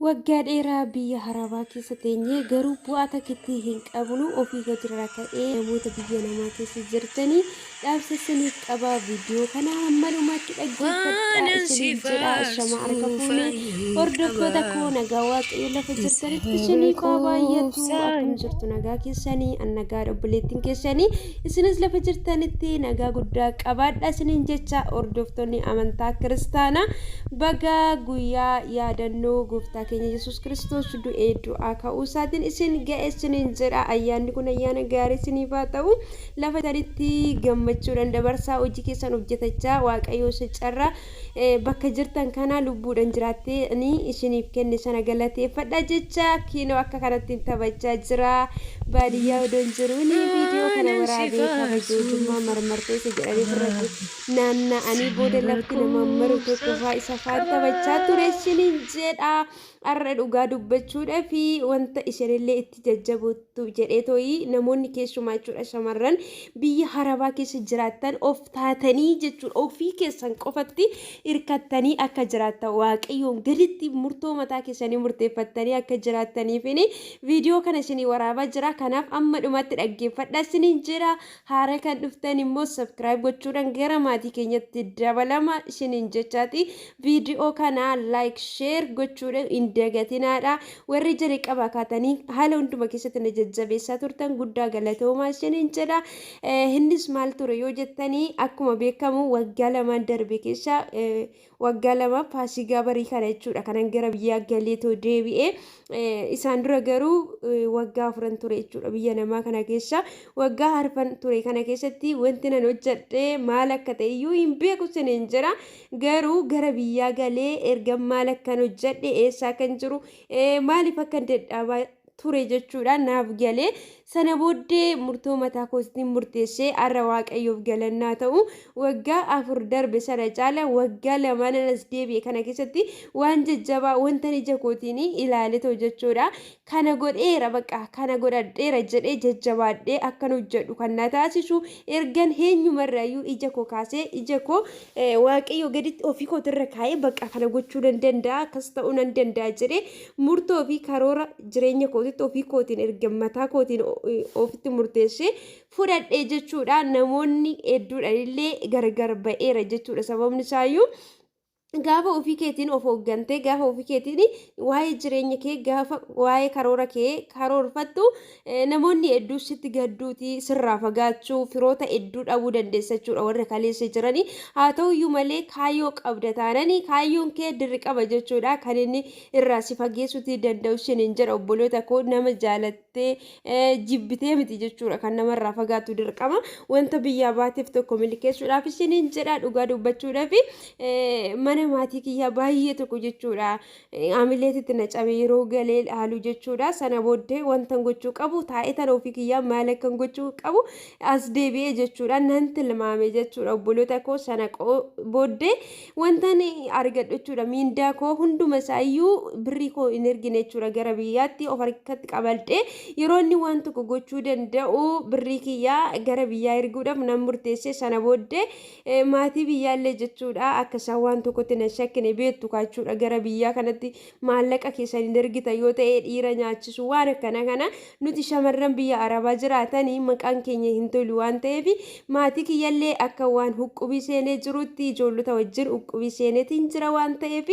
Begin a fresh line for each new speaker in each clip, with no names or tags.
Waggaa dheeraa biyya haraabaa keessa teenyee garuu bu'aa takkitti hin qabnu ofii hojirraa ka'ee namoota biyya namaa keessa jirtanii dhaamsa isiniif qaba viidiyoo kana hamma dhumaatti dhaggeeffadhaa isiniif jedha ashama harka fuune hordoftoota koo nagaa waaqayyo lafa jirtanitti isiniif haa baay'atu akkam jirtu nagaa keessanii an nagaa obboleettiin keessanii Isinis lafa jirtanitti nagaa guddaa qabaadha isiniin jecha hordoftoonni amantaa kiristaanaa baga guyyaa yaadannoo gooftaa keenya Yesuus Kiristoos du'ee du'aa ka'uu isaatiin isin ga'e isiniin jedha ayyaanni kun ayyaana gaarii isiniif haa ta'u lafa jirtanitti gammachuudhaan dabarsaa hojii keessan hojjetachaa waaqayyoo isa carraa Bakka jirtan kana lubbuudhan jiraattee ani isiniif kenne sana galateeffadha jecha kiinoo akka kanattiin taphachaa jira. Baadiyyaa odoon jiruun viidiyoo kana waraabee kabaja ujummaa marmartoo isa jedhanii birratti naanna'anii booda lafti nama maru tokko faa isa faan taphachaa ture isiniin jedha. Har'a dhugaa dubbachuudhaaf wanta isheenillee itti jajjaboottu jedhee tooyi namoonni keessumaa jechuudha shamarran biyya harabaa keessa jiraattan of taatanii jechuudha ofii keessan qofatti hirkattanii akka jiraattan waaqayyoon gaditti murtoo mataa keessanii murteeffattanii akka jiraattaniifin viidiyoo kana isinii waraabaa jira kanaaf amma dhumatti dhaggeeffadha isiniin jira Haara kan dhuftan immoo subscribe gochuudhaan gara maatii keenyatti dabalama isiniin jechaati. Viidiyoo kana like share gochuudhaan hin dagatinaadha. Warri jalqaba kaatanii haala hunduma keessatti na jajjabeessaa turtan guddaa galatoomaa isiniin jedha. Innis maal ture yoo jettanii akkuma beekamu waggaa lamaan darbe keessa waggaa lama faasigaa barii kana jechuudha kanan gara biyyaa galee too deebi'e isaan dura garuu waggaa afuran ture jechuudha biyya namaa kana keessa waggaa harfan ture kana keessatti wanti nan hojjadhe maal akka ta'e iyyuu hin beeku siniin jira garuu gara biyyaa galee erga maal akkan hojjadhe eessaa kan jiru maaliif akkan dadhaabaa ture jechuudha naaf gale sana booddee murtoo mataa koostiin murteessee har'a waaqayyoof galannaa ta'u waggaa afur darbe sana caala waggaa lamaan anas deebi'e kana keessatti waan jajjabaa wanta ija kootiin ilaaletu jechuudha kana godheera baqa kana godhadheera jedhee jajjabaadhee akkan hojjedhu kan na taasisu ergan eenyumarraayyuu ija koo kaasee ija koo waaqayyoo gaditti ofii kootirra kaa'ee baqa kana gochuu nan danda'a akkas ta'uu nan danda'a jedhee Murtoo fi karoora jireenya kootitti ofii kootiin erga mataa kootiin ofitti murteessee fudhadhe jechuudha. Namoonni hedduudhaan illee gargar ba'eera jechuudha. Sababni isaayyuu gaafa ofii keetiin of hooggantee gaafa ofii keetiin waa'ee jireenya kee gaafa waa'ee karoora kee karoorfattu Namoonni hedduu sitti gadduuti sirraa fagaachuu firoota hedduu dhabuu dandeessa jechuudha warra kaleessa jiranii haa ta'uyyuu malee kaayyoo qabda taananii kaayyoon kee dirqama jechuudha kan inni irraa si fageessuuti danda'u sin hin jedha obboloota koo nama jaalattee jibbitee miti jechuudha kan namarraa fagaatu dirqama wanta biyyaa baateef tokko milkeessuudhaaf sin hin jedha dhugaa dubbachuudhaaf mana maatii kiyyaa baay'ee tokko jechuudha Amileetitti na cabe yeroo galee haaluu jechuudha. Sana booddee wantan gochuu qabu taa'ee tana ofii kiyyaa maal akkan gochuu qabu as deebi'ee jechuudha. Nan tilmaame jechuudha obboloota koo sana booddee wantan argadhu jechuudha. Miindaa koo hunduma isaayyuu birrii koo hin ergine jechuudha gara biyyaatti of harkatti qabadhee yeroo inni waan tokko gochuu danda'u birrii kiyyaa gara biyyaa erguudhaaf nan murteesse sana booddee Maatii biyyaallee jechuudha akka isaan waan tokkotti nan shakkine beektu kaachuudha gara biyyaa kanatti maallaqa keessan hin ergitan yoo ta'e dhiira nyaachisu waan akkana kana nuti shamarran biyya arabaa jiraatanii maqaan keenya hin tolu waan ta'eef maatii kiyyallee akka waan huqqubii seenee jirutti ijoollota wajjin huqqubii seeneetiin jira waan ta'eef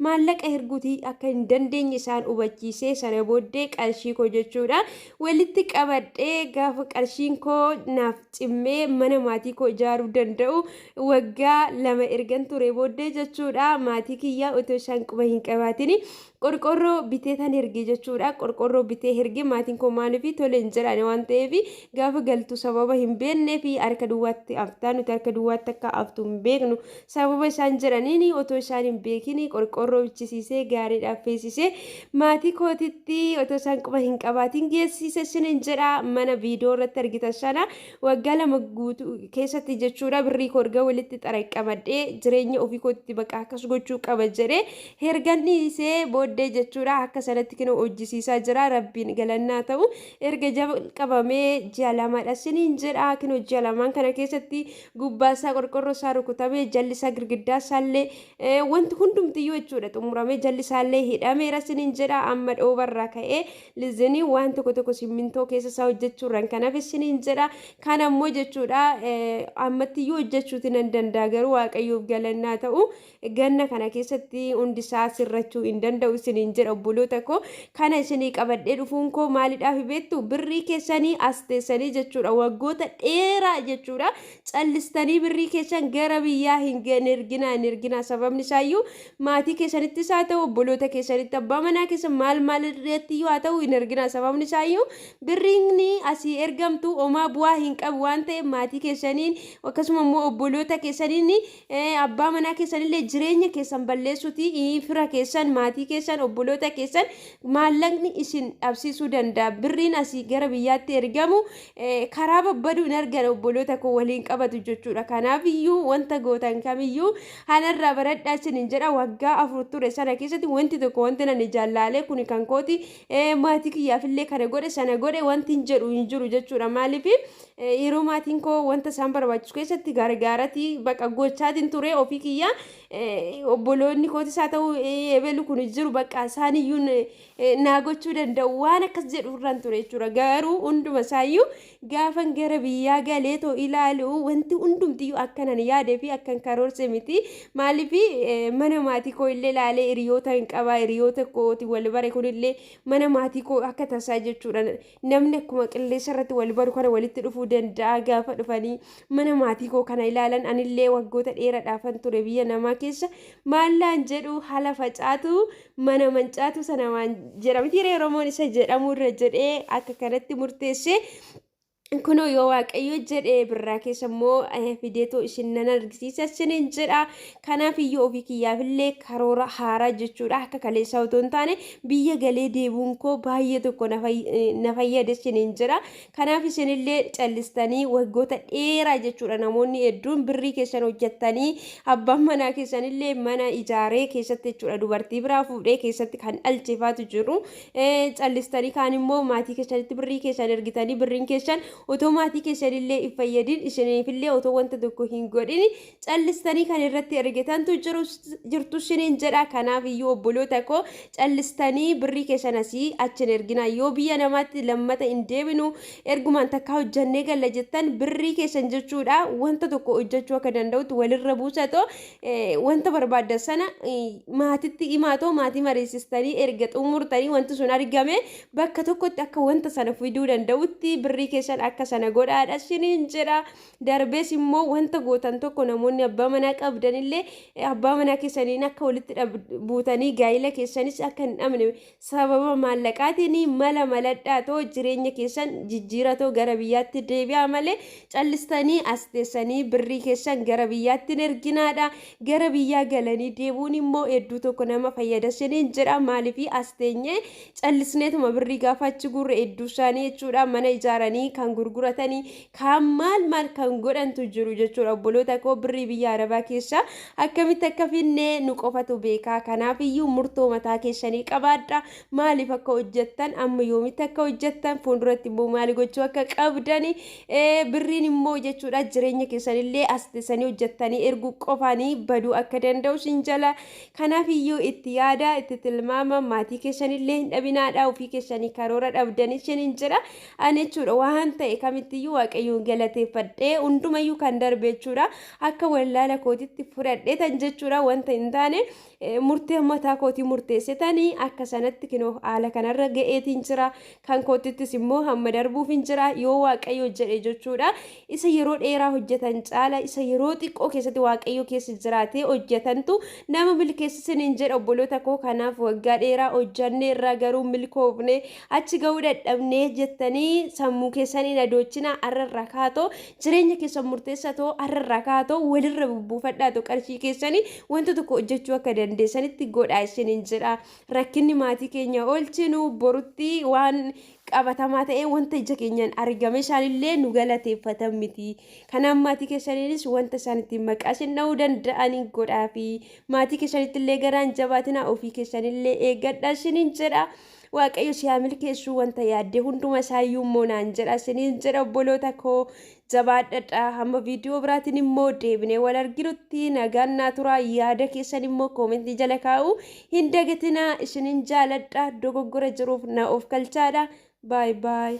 maallaqa erguutii akka hin dandeenye isaan hubachiisee sana booddee qarshii koo jechuudha Walitti qabadhee gaafa qarshiin koo naaf cimmee mana maatii koo ijaaruu danda'u waggaa lama ergan ture booddee jechuudha maatii kiyyaa otoo isaan quba hin qabaatin qorqorroo bitee tan erge jechuudha qorqorroo bitee erge maatiin koo maaliif tole hin jedhane waan ta'eef gaafa galtu sababa hin beeknee fi harka duwwaatti aftaa nuti harka duwwaatti akka aftu hin beeknu Sababa isaan jedhaniin otoo isaan hin beekin qorqoorroo bichisiisee gaariidhaan feesisee maatii kootitti otoo isaan quba hin qabaatiin geessiise sinin jedha mana viidiyoo irratti argitan sana waggaa lama guutuu keessatti jechuudha birrii koo erga walitti xaraqqamadhee jireenya ofii kootitti baqa akkas gochuu qaba jedhee hergan dhiisee booddee jechuudha akka sanatti kinoo hojjisiisaa jira rabbiin galannaa ta'u erga jalqabamee ji'a lamadha sinin jedha kinoo ji'a lamaan kana keessatti gubbaa isaa qorqorroo isaa rukutamee jalli isaa girgiddaa isaallee eh, wanti hundumtiyyuu jechuudha xumuramee jalli isaallee hidhameera sinin jedha amma dhoobarraa ka'ee lizinii waan tokko tokko simmintoo keessa isaa hojjechuurraan kan hafe sinin jedha kan ammoo jechuudha eh, ammattiyyuu hojjechuuti nan danda'a garuu waaqayyoof galannaa ta'u Ganna kana keessatti hundisaa sirrachuu hin danda'u isiniin jedha obboloota koo. Kana isinii qabadhee dhufuun koo maalidhaafi beektu? Birrii keessanii as teessanii jechuudha. Waggoota dheeraa jechuudha. Callistanii birrii keessan gara biyyaa hin hin erginaa hin erginaa. Sababni isaayyuu maatii keessanittis haa ta'u obboloota keessanitti abbaa manaa keessan maal maal irratti iyyuu haa ta'u hin erginaa. Sababni isaayyuu birriin asii ergamtu homaa bu'aa hin qabu waan ta'eef maatii keessaniin akkasuma immoo obboloota keessaniin Abbaa manaa keessanillee jireenya keessan balleessuti fira keessan, maatii keessan, obboloota keessan maallaqni isin dhabsiisuu danda'a. Birriin asii gara biyyaatti ergamu karaa babbaduu hin argan obboloota koo waliin qabatu jechuudha. Kanaaf iyyuu wanta gootan kamiyyuu hanarraa baradhaa isin hin jedha waggaa afur ture sana keessatti wanti tokko wanti nan ijaan laalee kuni kan kooti maatii kiyyaafillee kana godhe sana godhe wanti hin jedhu hin jiru jechuudha. Maaliif Yeroo maatiin koo wanta isaan barbaachisu keessatti gargaarati baqa gochaatiin ture ofii kiyya obboloonni kootis haa ta'u eebelu kun jiru baqa isaan iyyuu naa gochuu danda'u waan akkas jedhu irraan ture jechuudha garuu hunduma isaayyuu gaafan gara biyyaa galee too ilaalu wanti hundumtiyyuu akkanan yaadee fi akkan karoorse miti maaliif mana maatii koo illee ilaalee hiriyoota hin qabaa hiriyoota kooti wal bare kun illee mana maatii koo akka tasaa jechuudha namni akkuma qilleensa irratti wal baru kana walitti dhufuu danda'a gaafa dhufanii mana maatii koo kana ilaalan anillee waggoota dheeraadhaafan ture biyya namaa keessa maallaan jedhu haala facaatu mana mancaatu sana waan jedhamti Oromoon isa jedhamu irra jedhee akka kanatti murteessee kunoo yoo waaqayyo jedhe birraa keessa immoo fideetoo isin nan argisiisa isiniin jedha Kanaaf iyyuu ofii kiyyaaf illee karoora haaraa jechuudha akka kaleessaa otoo hin taane biyya galee deebuun koo baay'ee tokko na fay- eh, na fayyade isiniin jira. Kanaaf isin illee callistanii waggoota dheeraa jechuudha namoonni hedduun birrii keessan hojjettanii abbaan manaa keessan illee mana ijaaree keessatti jechuudha dubartii biraa fuudhee keessatti kan dhalcheefaatu jiru. Eh, Callistanii kaan immoo maatii keessanitti birrii keessan ergitanii birriin keessan otoo maatii keessan illee hin fayyadin isiniif illee otoo wanta tokko hin godhin callistanii kan irratti ergitantu jirtu isiniin jedha kanaaf iyyuu obboloota koo callistanii birrii keessan asii achi hin erginaa yoo biyya namaatti lammata hin deebinu ergumaan takkaa hojjannee galla jettan birrii keessan jechuudha wanta tokko hojjachuu akka danda'utti walirra buusatoo wanta barbaaddan sana maatitti himaatoo maatii mariisistanii erga xumurtanii wanti sun argame bakka tokkotti akka wanta sana fiduu danda'utti birrii keessan akka sana godhaadha isiniin jedha Darbees immoo wanta gootan tokko namoonni abbaa manaa qabdan illee abbaa manaa keessaniin akka walitti buutanii gaa'ila keessanis akka hin dhabne sababa maallaqaatiin mala maladhaa too jireenya keessan jijjiira too gara biyyaatti deebi'aa malee callistanii as teessanii birrii keessan gara biyyaatti hin erginaadha. Gara biyyaa galanii deebuun immoo hedduu tokko nama fayyada siniin jedha maaliif as teenyee callisneetuma birrii gaafa achi gurre hedduu isaanii jechuudha mana ijaaranii kan gurguratanii kaan maal maal kan godhantu jiru jechuudha obboloota koo birrii biyya arabaa keessa akkamitti akka finne nu qofatu beekaa kanaaf iyyuu murtoo mataa keessanii qabaadha maaliif akka hojjettan amma yoomitti akka hojjettan fuulduratti immoo maali gochuu akka qabdani ee, birriin immoo jechuudha jireenya keessanillee as teessanii hojjettanii erguu qofaanii baduu akka danda'u sin jala kanaaf iyyuu itti yaada itti tilmaama maatii keessanillee hin dhabinaadha ofii keessanii karoora dhabdanii sin hin jedha Ani jechuudha waan ta'e kamittiyyuu waaqayyoon galateeffadhee hundumayyuu kan darbe jechuudha akka wallaala kootitti fudhadhee tan jechuudha wanta hin taane murtee mataa kootii murteessetanii akka sanatti kinoo haala kanarra ga'eetiin jira kan kootittis immoo hamma darbuuf hin jira yoo waaqayyo jedhe jechuudha Isa yeroo dheeraa hojjetan caala isa yeroo xiqqoo keessatti Waaqayyo keessa jiraatee hojjetantu nama milkeessa isiniin jedha obboloota koo kanaaf waggaa dheeraa hojjannee irraa garuu milkoofne achi ga'uu dadhabnee jettanii sammuu keessan hin adoochinaa har'a irraa kaatoo jireenya keessan murteessa too har'a irraa kaatoo walirra bubbuufadhaa too qarshii keessanii wanta tokko hojjechuu akka dandeessanitti godhaa isiniin jedha rakkinni maatii keenya oolchinu borutti waan qabatamaa ta'ee wanta ija keenyaan argame isaanillee nu galateeffatan miti. Kanaaf maatii keessaniinis wanta isaan ittiin maqaa isin dha'uu danda'anii godhaa fi maatii keessanitti illee garaan jabaatina ofii keessanillee eeggadha isiniin jedha. Waaqayyo si haa milkeessu wanta yaadde hunduma isaayyuu immoo naan jedha isiniin jedha obboloota koo Jabaadhadhaa hamma viidiyoo biraatiin immoo deebinee wal arginutti nagaan naa turaa yaada keessan immoo koomentii jala kaa'uu hin dagatinaa isinin jaaladha dogoggora jiruuf na of kalchaadha baay baay.